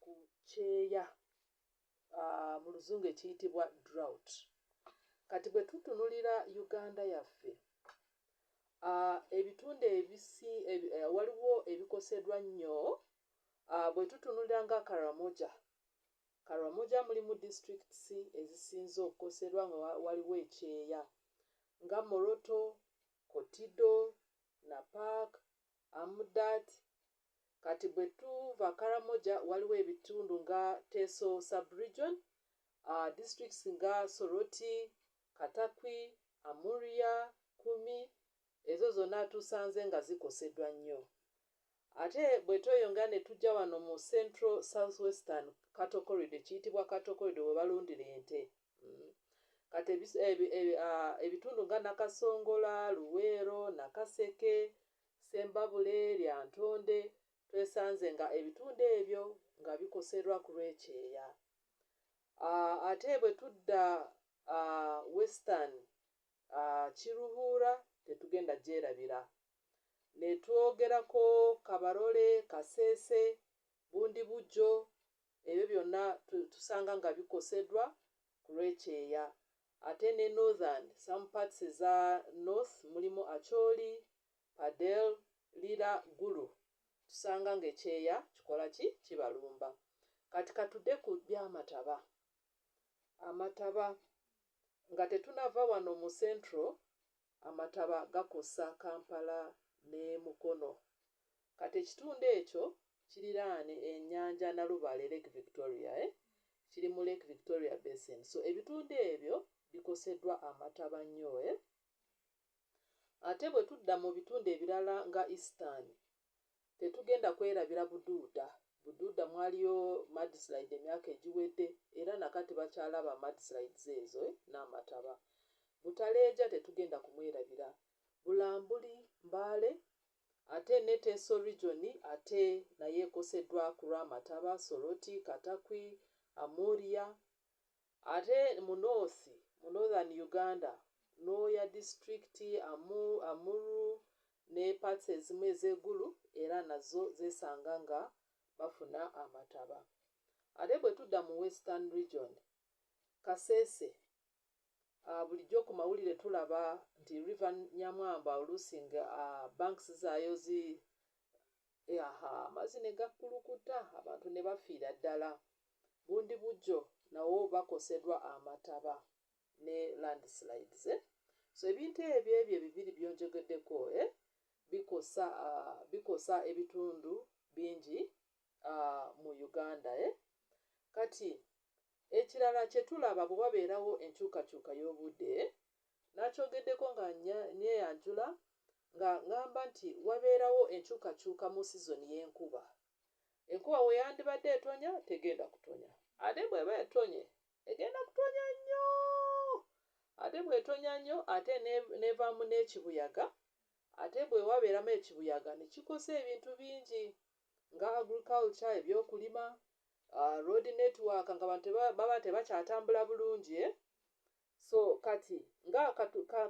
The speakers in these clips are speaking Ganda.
ku kyeya mu luzungu ekiyitibwa drought kati bwe tutunulira Uganda yaffe ebitundu ebisi waliwo ebikosedwa nnyo bwe tutunulira nga Karamoja Karamoja mulimu districts ezisinze okukoserwa nga waliwo ekyeya nga Moroto, Kotido, Napak, Amudat, Kati bwe tuva Karamoja waliwo ebitundu nga Teso sub-region, districts nga Soroti, Katakwi, Amuria, Kumi, ezo zonna tusanze nga zikosedwa nnyo. Ate bwe tweyongera ne tujja wano mu Central South-Western Cattle Corridor, ekiyitibwa Cattle Corridor we balundira ente, kati ebitundu nga Nakasongola, Luweero, Nakaseke, Ssembabule, Lyantonde, twesanze nga ebitundu ebyo nga bikoserwa ku lw'ekyeya. Ate bwe tudda Western, Kiruhura tetugenda gyerabira. Ne twogerako Kabarole, Kasese, Bundibugyo, ebyo byonna tu, tusanga nga bikosedwa kulwekyeya ate ne northern some parts eza north mulimu Acholi, Padel, Lira, Gulu tusanga nga ekyeya kikola ki kibalumba kati katude ku byamataba amataba nga tetunava wano mu central amataba gakosa Kampala ne Mukono. Kati ekitundu ekyo kiriraane enyanja Nalubale, Lake Victoria eh, kiri mu Lake Victoria Basin. So ebitundu ebyo bikosedwa amataba nnyo eh. Ate bwe tudda mu bitundu ebirala nga Eastern, Tetugenda kwerabira Buduuda. Buduuda mwaliyo mudslide emyaka egiwedde era na kati bakyalaba mudslides ezo n'amataba. Butaleeja tetugenda kumwerabira. Bulambuli, Mbale, ate ne Teso region ate nayo ekoseddwa ku lw'amataba, Soroti, Katakwi, Amuria, Ate mu North, mu Northern Uganda, Nwoya district, Amu, Amuru ne parts ezimu eze Gulu era nazo zesanga nga bafuna amataba. Ate bwetudda mu Western region, Kasese, a bulijjo ku mawulire tulaba nti River Nyamwamba oluusi nga a banks zaayo zi ahaa amazzi ne gakkulukuta abantu ne bafiira ddala. Bundibugyo nawo bakosedwa amataba ne landslides eh so ebintu ebyo ebyo ebibiri byonjogedeko eh bikosa ah bikosa ebitundu bingi ah mu Uganda eh kati ekirala kyetulaba bwewabeerawo enkyukakyuka yobude eh nakyogedeko nga nya nyeyanjula nga ngamba nti wabeerawo enkyukakyuka mu season yenkuba Enkuba we yandibadde etonya tegenda kutonya. Ate bw'eba etonye egenda kutonya nnyo. Ate bw'etonya nnyo ate n'evaamu n'ekibuyaga ate bwe wabeeramu ekibuyaga ne kikosa ebintu bingi nga agriculture, ebyokulima, road network ng'abantu baba tebakyatambula bulungi. So kati nga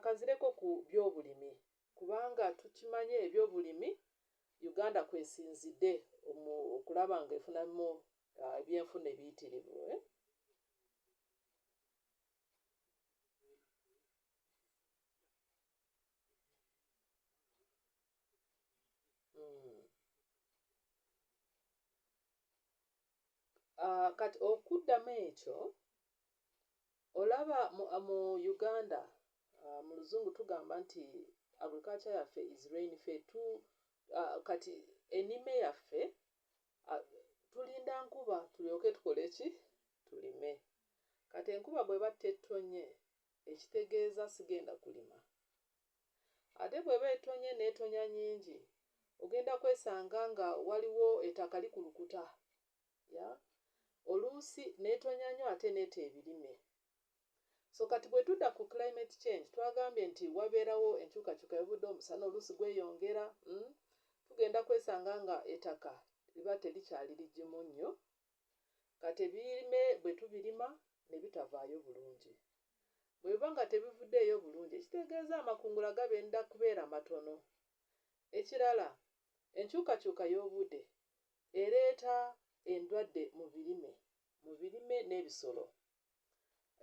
kanzireko ku byobulimi. kubanga tukimanyi ebyobulimi Uganda kwesinzide okulaba nga efunamu ebyenfuna ebiyitirivu. Kati okuddamu ekyo Olaba mu mu Uganda mu luzungu tugamba nti agriculture yaffe is rain fee tu kati enime yaffe tulinda nkuba tulyoke tukole ki tulime kati enkuba bweba tetonye ekitegeeza sigenda kulima ate bweba etonye netonya nyingi ogenda kwesanga nga waliwo etaka likulukuta ya oluusi netonya nyo ate neta ebirime so kati bwetuda ku climate change twagambye nti waberawo enkyukakyuka yobude omusana oluusi gweyongera mm, tugenda kwesanga nga etaka liba telikyali ligimu nyo kati ebirime bwetubirima nebitavaayo bulungi bwebiba nga tebivudeeyo bulungi ekitegeeza amakungula gabenda kubeera matono ekirala enkyukakyuka yobude Ereeta endwadde mu birime mu birime n'ebisolo.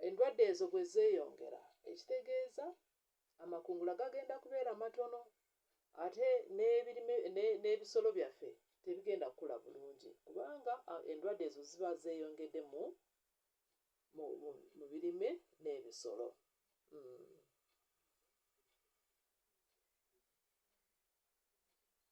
Endwadde ezo bwe zeeyongera ekitegeeza amakungula gagenda kubeera matono ate n'ebirime n'ebisolo byaffe tebigenda kukula bulungi kubanga endwadde ezo ziba zeeyongedde mu mu birime n'ebisolo. Hmm.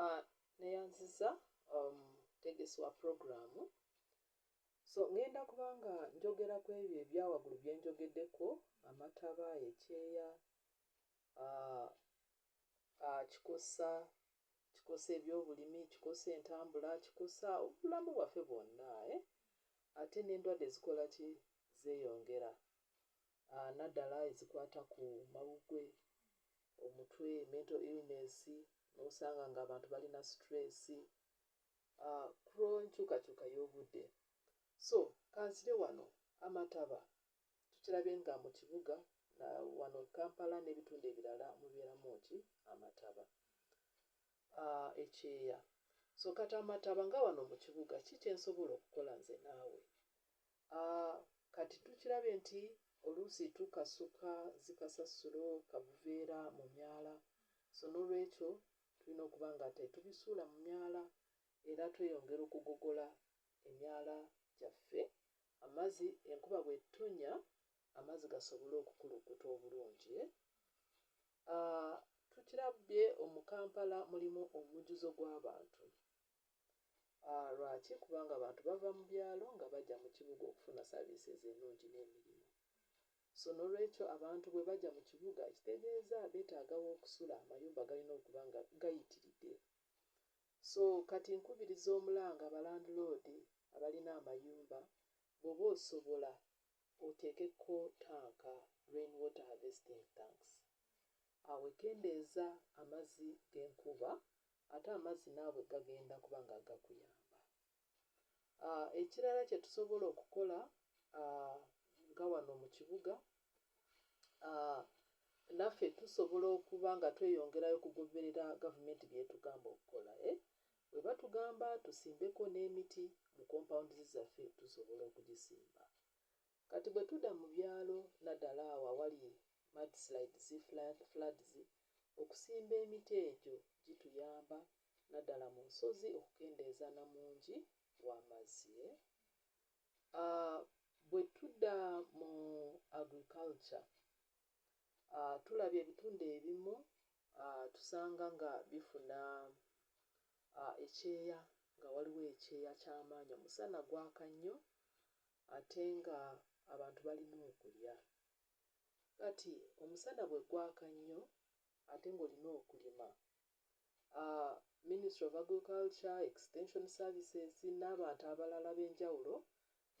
ah, neyanziza omutegesi um, wa puroguramu so ŋŋenda kubanga njogera ku ebyo ebyawagulu bye njogeddeko amataba ekyeya ah, ah, kikusa kikosa ebyobulimi, kikosa entambula, kikosa obulamu bwaffe bwonna eh? Ate n'endwadde zikola ki? Zeeyongera ah, naddala ezikwata ku mawuggwe, omutwe, mental illness, n'osanga ng'abantu balina stress ah, ku lw'enkyukakyuka y'obudde. So kansire wano amataba tukirabye nga mu kibuga na wano Kampala n'ebitundu ebirala mubeeramu ki amataba uh, ekyeya so kati amataba nga wano mu kibuga ki kyensobola okukola nze naawe uh, kati tukirabye nti oluusi tukasuka zikasasulo kabuveera mu myala so n'olwekyo tulina okuba nga tetubisuula mu myala era tweyongera okugogola emyala gyaffe Amazi enkuba bwettonya amazi gasobole okukulukuta obulungi ah tukirabbye omu Kampala mulimu omujjuzo gw'abantu ah lwaki kubanga abantu bava mu byalo nga bagya mu kibuga okufuna services ennungi n'emirimu so n'olwekyo abantu bwe bagya mu kibuga ekitegeeza beetaaga w'okusula amayumba galina okuba nga gayitiridde So kati nkubiriza omulanga ba landiloodi abalina amayumba bwoba osobola oteeke ko tanka, rain water harvesting tanks, awo ekendeeza amazi genkuba ate amazi naawe gagenda kuba nga gakuyamba. Ekirala kye tusobola okukola nga wano mu kibuga, naffe tusobola okuba nga tweyongerayo okugoberera gavumenti by'etugamba okukola. Bwe batugamba tusimbeko n'emiti mu compounds zaffe tusobola okugisimba. Kati bwe tuda mu byalo naddala awo awali mudslides, floods, okusimba emiti egyo gituyamba naddala mu nsozi okukendeeza na mungi w'amazzi. Bwe tudda mu agriculture, tulabye ebitundu ebimu tusanga nga bifuna ekyeya nga waliwo ekyeya ky'amaanyi, omusana gwaka nnyo ate ng'abantu balina okulya. Kati omusana bwe gwaka nnyo ate ng'olina okulima, Ministry of Agriculture, Extension Services n'abantu abalala ab'enjawulo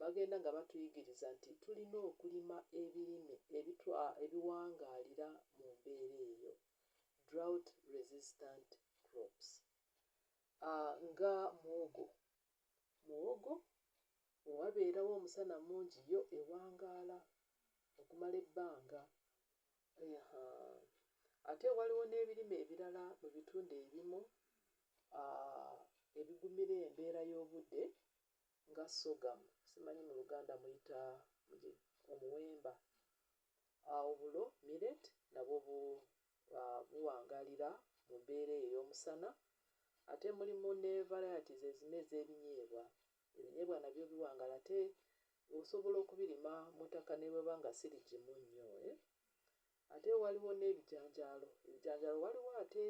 bagenda nga batuyigiriza nti tulina okulima ebirime ebiwangaalira mu mbeera eyo, drought resistant crops, nga muwogo. Muwogo we wabeerawo omusana mungi yo ewangaala okumala ebbanga Ate waliwo n'ebirime ebirala mu bitundu ebimu ebigumira embeera y'obudde nga sorghum, simanyi mu Luganda muyita omuwemba, obulo, millet, nabwo buwangaalira mu mbeera eyo ey'omusana. Ate mulimu ne varieties ezimu ez'ebinyeebwa Ebinyeebwa nabyo biwangala ate osobola okubirima mu ttaka ne bweba nga si ligimu nnyo eh. Ate waliwo n'ebijanjaalo. Ebijanjaalo waliwo ate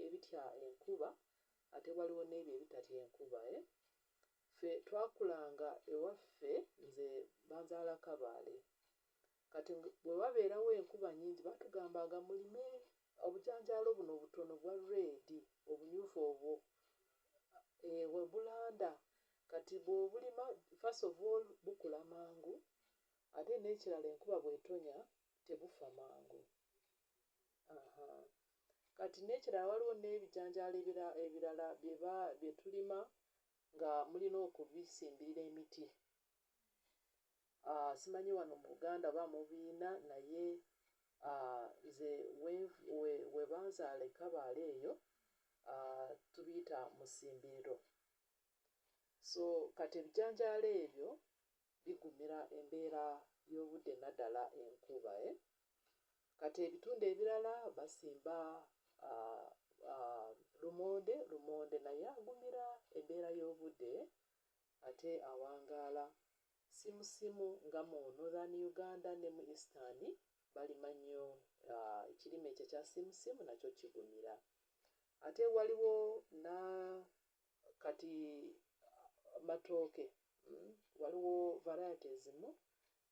ebitya enkuba ate waliwo n'ebyo ebitatya enkuba eh. Ffe twakulanga ewaffe nze banzaala Kabaale. Kati bwe wabeerawo enkuba nnyingi batugambanga mulime obujanjaalo buno obutono obwa red, obumyufu obwo, eeh, we bulanda. Kati bw'obulima, first of all bukula mangu ate n'ekirala enkuba bw'etonya tebufa mangu. Ahaa. Kati n'ekirala waliwo n'ebijanjaalo ebirala bye tulima nga mulina okubisimbirira emiti. ah, simanyi wano mu buganda oba mubiina naye ah, nze webanzaala we ekabaala eyo ah, tubiyita musimbiriro so kati ebijanjaalo ebyo bigumira embeera y'obudde naddala enkuba eh? kati ebitundu ebirala basimba ah, ah, lumonde lumonde naye agumira embeera y'obudde ate awangaala simu simu nga mu Northern Uganda ne mu Eastern balima nnyo ekirime ekyo ekya simu simu nakyo kigumira ate waliwo na kati matooke mm, waliwo variety ezimu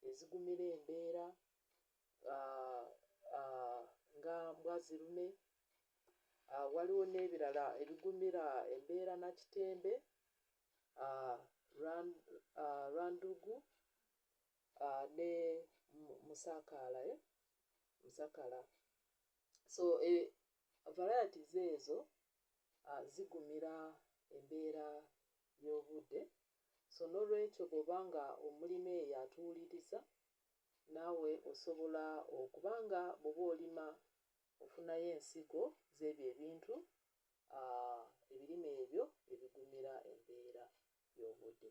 ezigumira embeera uh, uh, nga mbwazirume uh, waliwo n'ebirala ebigumira embeera na kitembe Rwandugu ne Musakaala eh? Musakala so e, varieties ezo zigumira embeera y'obudde so n'olwekyo bw'oba nga omulima eyo atuwuliriza naawe osobola okuba nga bw'oba olima ofunayo ensigo z'ebyo ebintu uh, ebirime ebyo ebigumira embeera y'obudde